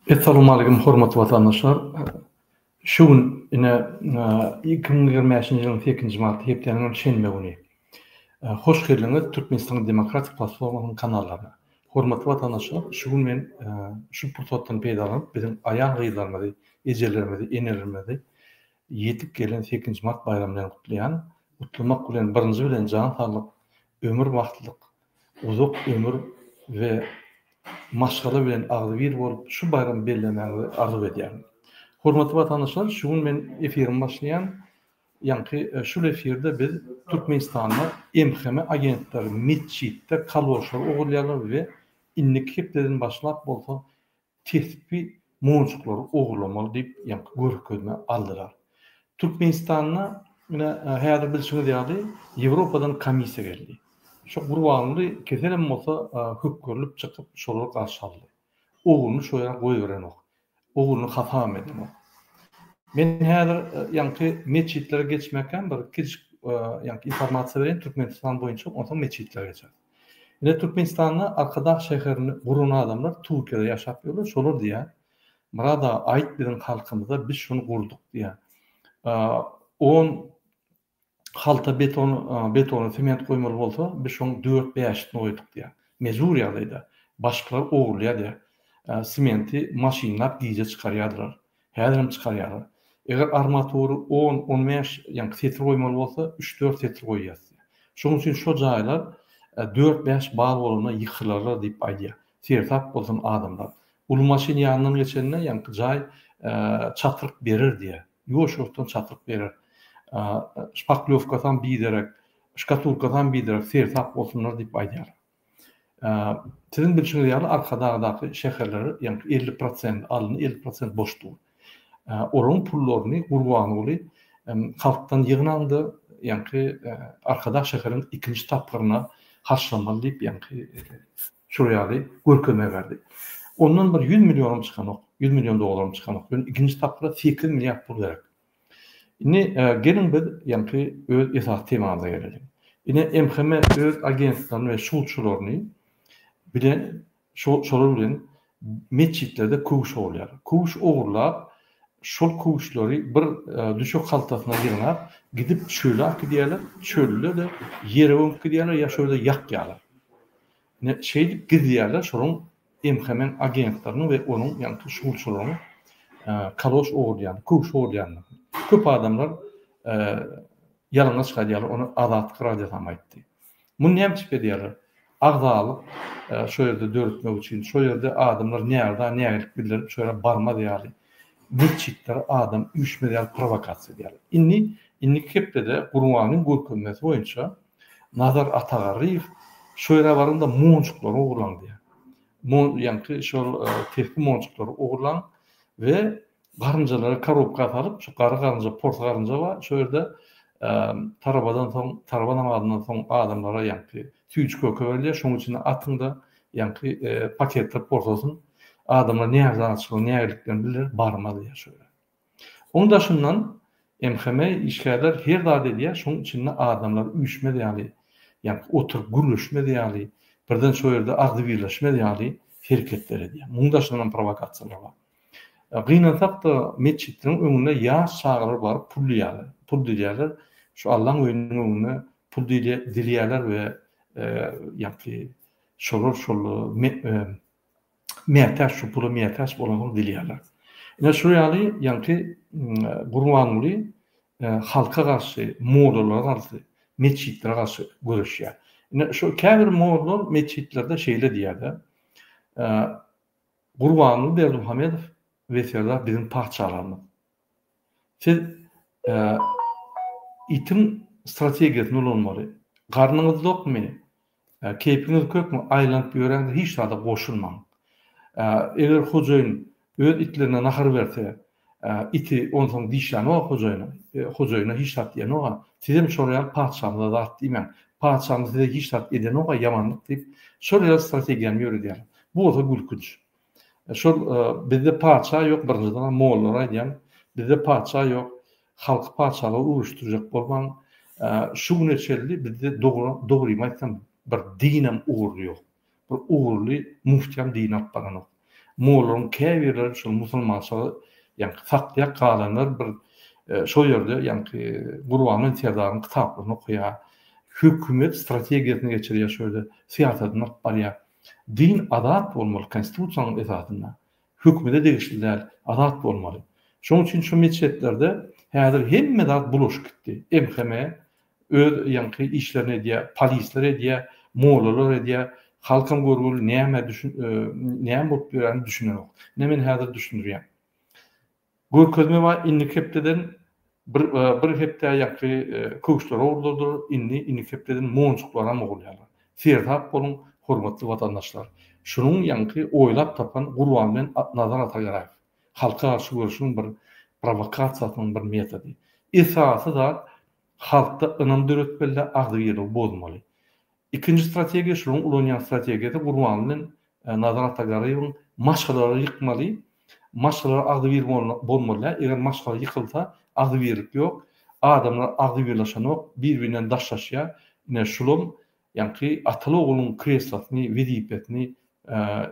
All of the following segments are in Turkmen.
Essalamu Aleýkum hormatly watandaşlar. Şu gün ine 2025-nji ýylyň 8-nji marty hepdäniň şenbe güni. Hoş geldiňiz Türkmenistan Demokratik Platformasynyň kanallaryna. Hormatly watandaşlar, şu gün men şu pursatdan peýdalanyp, biziň aýal-gyzlarymyzy, ejelerimizi, enelerimizi ýetip gelen sekizinji mart baýramy bilen gutlaýan. Gutlamak bilen, birinji bilen, jan saglyk, ömür bagtlyk, uzak ömür we maşgala bilen agzybir bolup, şu baýramy bellemäňizi arzuw edýärin. Hormatly watandaşlar, şu gün men efirimi başlaýan. Ýaňky şul efirde biz Türkmenistanda MHM agentleri metjitde kaloşlary ogurlaýarlar we indiki hepdeden başlap bolsa tesbi monjuklary ogurlamaly diýip ýaňky görkezme aldylar. Türkmenistanda ine häzir bilşiňiz ýaly Ýewropadan komissiýa geldi. Şo gurbanguly keselem bolsa hökürilip çykyp şolary garşy aldy. Ogluny şo ýere goýberenok. Ogluny hasam edenok. Men häzir ýaňky metjitlere geçmekäm bir kiçijik ýaňky informasiýa bereýin Türkmenistan boýunça onsoň metjitlere geçeris. Ine Türkmenistanda Arkadag şäherini guran adamlar Turkiýada ýaşap ýörler şolar diýýär. Murad aga aýt biziň halkymyza biz şuny gurduk diýýär. On halta beton, betona sement goýmaly bolsa, biz şoň dört-bäşisini goýduk diýýär. Mejbur ýagdaýda. Başgalar ogurlaýar diýýär. Sementi maşynlap gije çykarýardylar. Häzirem çykarýarlar. Eger armatury on, on bäş, ýaňky setir goýmaly bolsa, üç-dört setir goýýas diýýär. Şonuň üçin şo jaýlar dört-bäş bal bolanda ýykylarlar diýip aýdýar. Sersap bolsun adamlar. Uly maşyn ýanyndan geçende ýaňky jaý çatryk berer diýä. Ýuwaşjykdan çatryk berer. Şpaklýowkasam biderek, şkatulkasam biderek sersap bolsunlar diýip aýdýarlar. Siziň bilşiňiz ýaly Arkadagdaky şäherlere ýaňky elli prosent alny, elli prosent boş dur. Olaryň pullaryny Gurbanguly halkdan ýygnan-da ýaňky Arkadag şäheriniň ikinji tapgyryna harçlamaly diýip ýaňky Şol ýaly görkezme berdi. Ondan bir ýüz millionym çykanok, ýüz million dollarym çykanok. Ýöne ikinji tapgyra sekiz milliard pul gerek. Indi geliň biz ýaňky öz esasy temamyza geleliň. Ine MHM öz agentliklerini we şowçularyny bilen şolar bilen metjitlerde köwüş ogurlaýar. Köwüş ogurlap, şol köwüşleri bir düşek haltasyna ýygnap, gidip çöle akyp gidýärler, çölde-de ýere gömüp gidýärler ýa şol ýerde ýakýarlar. Ine, şeýdip gizlýärler şolaryň MHM-iň agentleriniň we onuň ýagny tuşulçylaryň kaloş ogurlaýan, köwüş ogurlaýandygyny. Köp adamlar ýalana çykarýarlar, ony Azatlyk Radiosam aýtdy. Muny näme üçin edýärler? Agzalyk şo ýerde döretmek üçin, şo ýerde adamlar nägdä nägilik bildirip, şo ýere barmaz ýaly, metjitlere adam üýşmez ýaly prowokasiýa edýärler. Indi indiki hepdede Gurbanyň görkezmesi boýunça Nazar Atagarryýew şu ýere baryňda monjuklary ogurlaň diýýär. Mon ýaňky şol tesbi monjuklary ogurlaň we garynjalary karobka salyp, şu garry garynja, pors garynja bar, şo ýerde tarabadan soň, taraba namazyndan soň adamlara ýaňky süýji köke berilýär, şonuň içinde atyň-da ýaňky paketdir porsasyn. Adamlar nähili zat açyklary, nähililiklerini bildirer, barma diýýär şo ýere. Oň daşyndan MHM işgärler her zat edýär, şoň içinde adamlar üýşmez ýaly, ýa-da oturyp gürleşmez ýaly, birden şo ýerde agzybirleşmez ýaly hereketler edýär. Muň daşyndan hem prowokasiýalar bar. Gynansak-da, metjitleriň öňüne ýaş çagalar baryp pul diýýärler. Pul dilýärler. Şu Allaň öýüniň öňüne pul dilýärler we ýa-da şolar şol mätäç, şu pula mätäç bolansoň dilýärler. Ine şu ýaly ýaňky Gurbanguly halka garşy, mollalara garşy, metjitlere garşy göreşýär. Ine şu käbir molla metjitlerde şeýle diýýärde, Gurbanguly Berdimuhamedow we Serdar biziň patyşalarymyz. Siz itiň strategiýasyny ulanmaly. Garnyňyz dokmy? Keýpiňiz kökmi, aýlanyp ýöräňde hiç zada goşulmaň. Eger hojaýyn öz itlerine nahar berse, iti onsoň dişlänok-a hojaýyna, hojaýyna hiç zat diýenok-a. Sizem şol ýaly patyşamyza zat diýmäň. Patyşamyz size hiç zat edenok-a, ýamanlyk diýip, şol ýaly strategiýany ýöredýärler. Bu bolsa gülkünç. Şol bizde patyşa ýok birinjiden mollalar aýdýan bizde patyşa ýok halky patyşalyga öwüşdirjek bolmaň şu güne çelli bizde dogrymy aýtsam bir dinem ugurly ýok bir ugurly muftiýam din alyp baranok mollaryň käbirleri şol musulmançylygy ýaňky saklaýar galanlar bir şol ýerde ýaňky gurbangül serdaryň kitaplaryny okaýar hökümet strategiýasyny geçirýär şöýle syýasatyny alyp barýar Din azat bolmaly konstitusiýanyň esasynda. Hökümede degişli däl, azat bolmaly. Şoň üçin şu meçhetlerde häzir hemme zat bulaşyp gitdi. MHM öz ýaňky işlerini edýär, polisler edýär, mollalar edýär. Halkam görgüli näme düşün näme bolup ýöräni düşünenok. Ine men häzir düşündirýän. Görkezme bar indiki hepdeden bir bir hepdä ýaňky köwüşler ogurladylar indi indiki hepdeden monjuklaram ogurlaýarlar seresap boluň hormatly watandaşlar şunuň ýaňky oýlap tapan gurban bilen Nazar Atagaraýew halka garşy göreşiň bir prowakasiýasynyň bir metody esasy zat halkda ynam döretmelidä agzybirligi bozmaly Ikinji strategiýa şularyň ulanýan strategiýasy Gurbanly bilen Nazar Atagaryýewiň maşgalalary ýykmaly, maşgalalar agzybir bolmalydä, eger maşgala ýykylsa agzybirlik ýok, adamlar agzybirlaşanok, bir-birinden daşlaşýa, ine şulam ýaňky ataly ogluň kreslosyny, wezipesini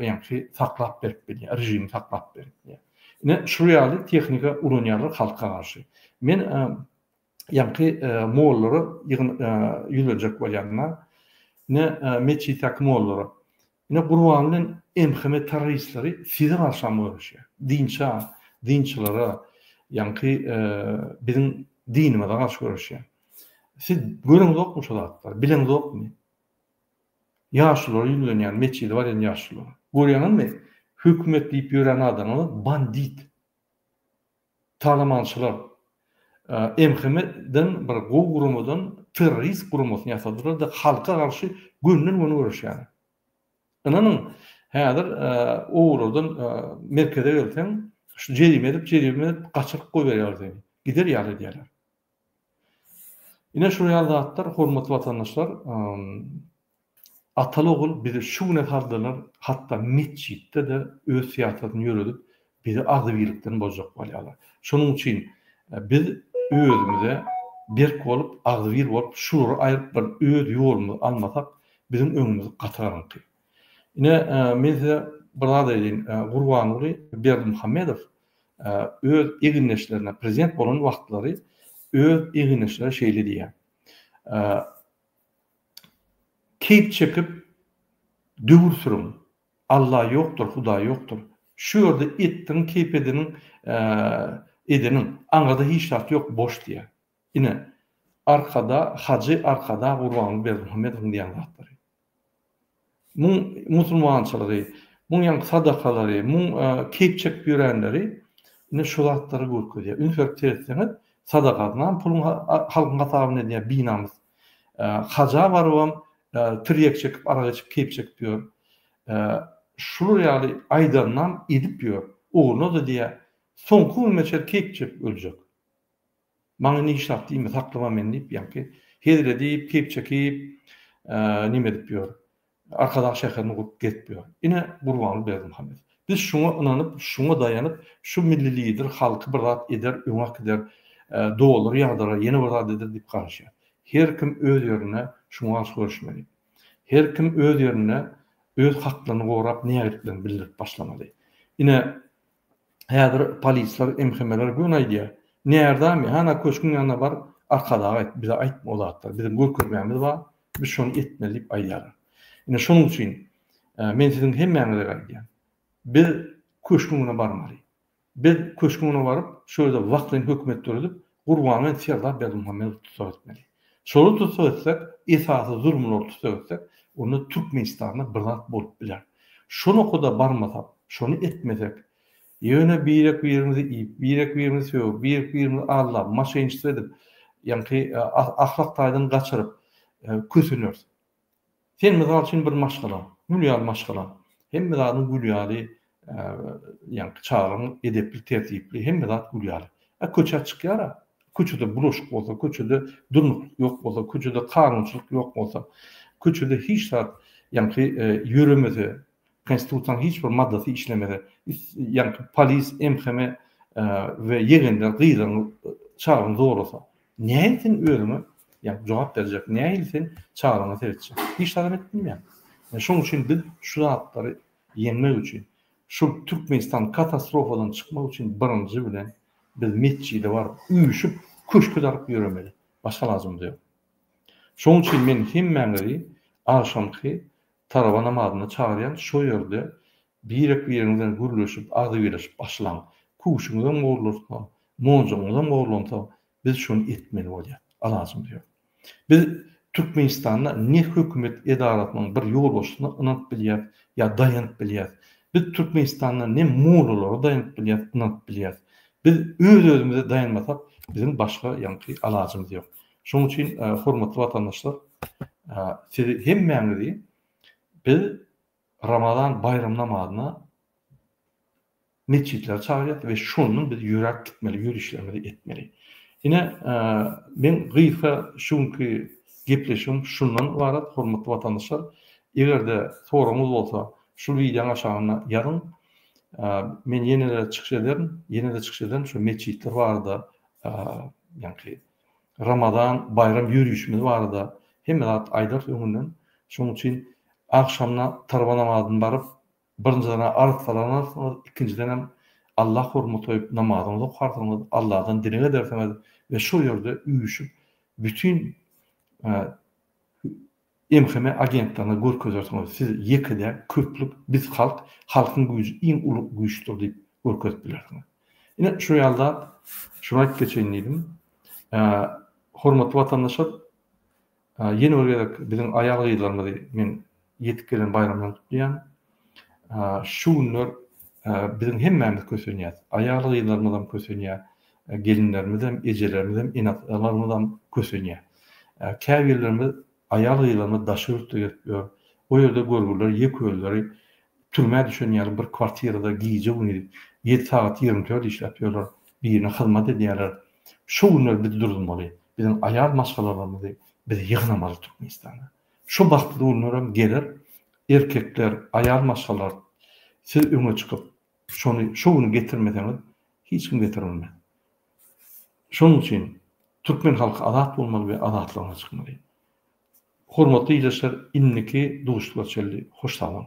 ýaňky saklap berip bilýä, režimi saklap berip bilýä. Ine şury ýaly tehnika ulanýarlar halka garşy. Men ýaňky mollara ýüzlenjek bolýanlar, ine metjitteki mollara, ine Gurban bilen MHM terroristleri size garşam göreşýär. Dinçä, dinçilere, ýaňky biziň dinimize garşy göreşýär. Siz göreňzokmy şu zatlary, bileňzokmy? Ýaşulara ýüzlenýän, metjide barýan ýaşulara. Görýäňizmi, hökümet diýip ýören adamlar bandit. Talamançylar MHM-den bir gowy guramadan terrorist guramasyny ýasadylar-da, halka garşy gönden-göni göreşýärler. Ynanyň, häzir olardan merkeze gelseň, şu jerime edip, jerime edip gaçyryp goýberýärler seni. Gider ýaly edýärler. Ine şular ýaly zatlar, hormatly watandaşlar, Ataly-ogul bizi şu güne saldylar, hatda metjitde-de öz syýasatyny ýöredip, bizi agzybirlikden bozjak bolýarlar. Şonuň üçin biz özümize berk bolup, agzybir bolup, şulary aýryp bir öz ýolumyzy almasak, biziň öňümüz gaty garaňky. Ine, men size bir zat aýdaýyn, Gurbanguly Berdimuhamedow öz egindeşlerine, prezident bolan wagtlary öz egindeşlerine şeýle diýýär, Keýp çekip döwür sürüň. Alla ýokdur, Hudaý ýokdur. Şu ýerde etdiň, keýp edeniň, edeniň. Aňyrda hiç zat ýok, boş diýýär. Ine, Arkada, Hajy Arkada, Gurbanguly Berdimuhamedowyň diýen zatlary. Muň musulmançylygy, muň ýaňky sadakalary, muň keýp çekip ýörenleri ine şu zatlary görkezýär. Üns berip seretseňiz, sadagasynam puluň halkyň hasabyna edýär, binamys. Haja barybam tirýek çekip, arak içip, keýp çekip ýör. Şular ýaly aýdanynam edip ýör. Ogluny-da diýýär, soňky günüme çenli keýp çekip öljek. Maňa nişap diýme, saklama meni diýip, ýaňky hezil edip, keýp çekip, neme edip ýör. Arkadag şäherini gurup gezip ýör. Ine, Gurbanguly Berdimuhamedow. Biz şuňa ynanyp, şuňa daýanyp, şu milli lider halky bir zat eder, öňe äkider, dolary ýagdyrar, ýene bir zat eder diýip garaşýar. Her kim öz ýerinde şuňa garşy göreşmeli. Her kim öz ýerinde öz haklaryny gorap, nägiliklerini bildirip başlamaly. Ine, Häzir polisler, MHM-ler göni aýdýar. Närdami? Hana köşgüň ýanyna bar, Arkadaga aýt, bize aýtma o zatlary. Biziň görkezmämiz bar, biz şony etmeli diýip aýdýarlar. Ine, şonuň üçin men siziň hemmäňizege aýdýan. Biz köşgüň ýanyna barmaly. Biz köşgüň ýanyna baryp, şo ýerde wagtlaýyn hökümet döredip, Gurbangeldi Serdar Berdimuhamedowy tussag etmeli. Şoly tussag etsek, esasy zulumlary tussag etsek, onda Türkmenistanda bir zat bolup biler. Şo nokada barmasak, şony etmesek, ýöne birek-birimizi iýip, birek-birimizi sögüp, birek-birimizi aldap, moşenniçtwo edip, ýaňky ahlak taýdan gaçyryp köseneris. Sen mysal üçin bir maşgala, gül ýaly maşgala, hemme zadyň gül ýaly, ýaňky çagaň edepli, tertipli, hemme zat gül ýaly. A köçä çykýar-a, köçede bulaşyk bolsa, köçede durnuklyk ýok bolsa, köçede kanunçylyk ýok bolsa, köçede hiç zat ýaňky ýöremese, Konstitusiýanyň hiç bir maddasy işlemese, ýa-ni polis, MHM we ýegenler gyzyňy, çagaňy zorlasa, nähili sen özüňe, ýa-ni jogap berjek, nähili sen çagaňa seretjek? Hiç zat hem edip bilmeýäň. Şonuň üçin biz şu zatlary ýeňmek üçin, şu Türkmenistan katastrofadan çykmak üçin birinji bilen biz metjide baryp, üýşüp, köşke daryp ýöremeli. Başga alajymyz ýok. Şonuň üçin men hemmäňizi agşamky Taraba namazyna çagyrýan şo ýerde birek biriňiz bilen gürleşip agzybirleşip başlaň. Küşüňizem gorlarsa, monjugyňyzam gorlansa biz şony etmeli bolýar. Alajymyz ýok. Biz Türkmenistanda ne hökümet edarasynyň bir ýolbaşçysyna ynanyp bilýäris ýa daýanyp bilýäris. Biz Türkmenistanda ne mollalara daýanyp bilýäris, ynanyp bilýäris. Biz öz özümize daýanmasak biziň başga ýaňky alajymyz ýok. Şonuň üçin hormatly watandaşlar sizi hemmäňizi biz Ramazan baýram namazyna metjitlere çagyrýas we şondan biz ýöräp gitmeli, ýörişlerimizi etmeli. Ine men gysga şu günki gepleşigim şundan ybarat hormatly watandaşlar. Eger-de soragyňyz bolsa şu wideoň aşagynda ýazyň. Men ýene-de çykyş ederin, ýene-de çykyş ederin şu metjitler barada ýaňky Ramazan baýram ýörişimiz barada hemme zat aýdarys öňünden. Şonuň üçin agşamyna tarwa namazyny baryp, birinjiden arz salanarsyňyz, ikinjidenem Allah hormaty goýup namazyňyzy okarsyňyz, Allahdan dileg edersiňiz we şol ýerde üýşüp bütin MHM agentligine görkezersiňiz siz ýeke däl köplük biz halk halkyň güýji iň uly güýçdür diýip görkezip bilersiňiz. Ine şu ýaly zat şuny aýyp geçeýin diýdim. Hormatly watandaşlar ýene bir gezek biziň aýal gyzlarymyzy men ýetip gelen baýramdan gutlaýan. Şu günler biziň hemmämiz kösenýäs. Aýal-gyzlarymyzam kösenýär. Gelinlerimizem, ejelermizem, ene-atalarymyzam kösenýär. Käbirlerimiz, aýal-gyzlarymyz daşary ýurtda gezip ýör. O ýerde görgüliler ýeke özleri türmä düşen ýaly bir kwartirada gije-gündiz ýedi sagat ýigrimi dört işläp ýörler, birine hyzmat edýärler. Şu günler biz durulmaly. Biziň aýal maşgalalarymyzy biz ýygnamaly Türkmenistana. Şu bagtly günlerem geler, erkekler, aýal maşgalar siz öňe çykyp, şony şu güni getirmeseňiz, hiç kim getirer bilmez. Şonuň üçin türkmen halky azat bolmaly we azatlygyna çykmaly. Hormatly ildeşler, indiki duşuşyklar çenli hoş sag boluň!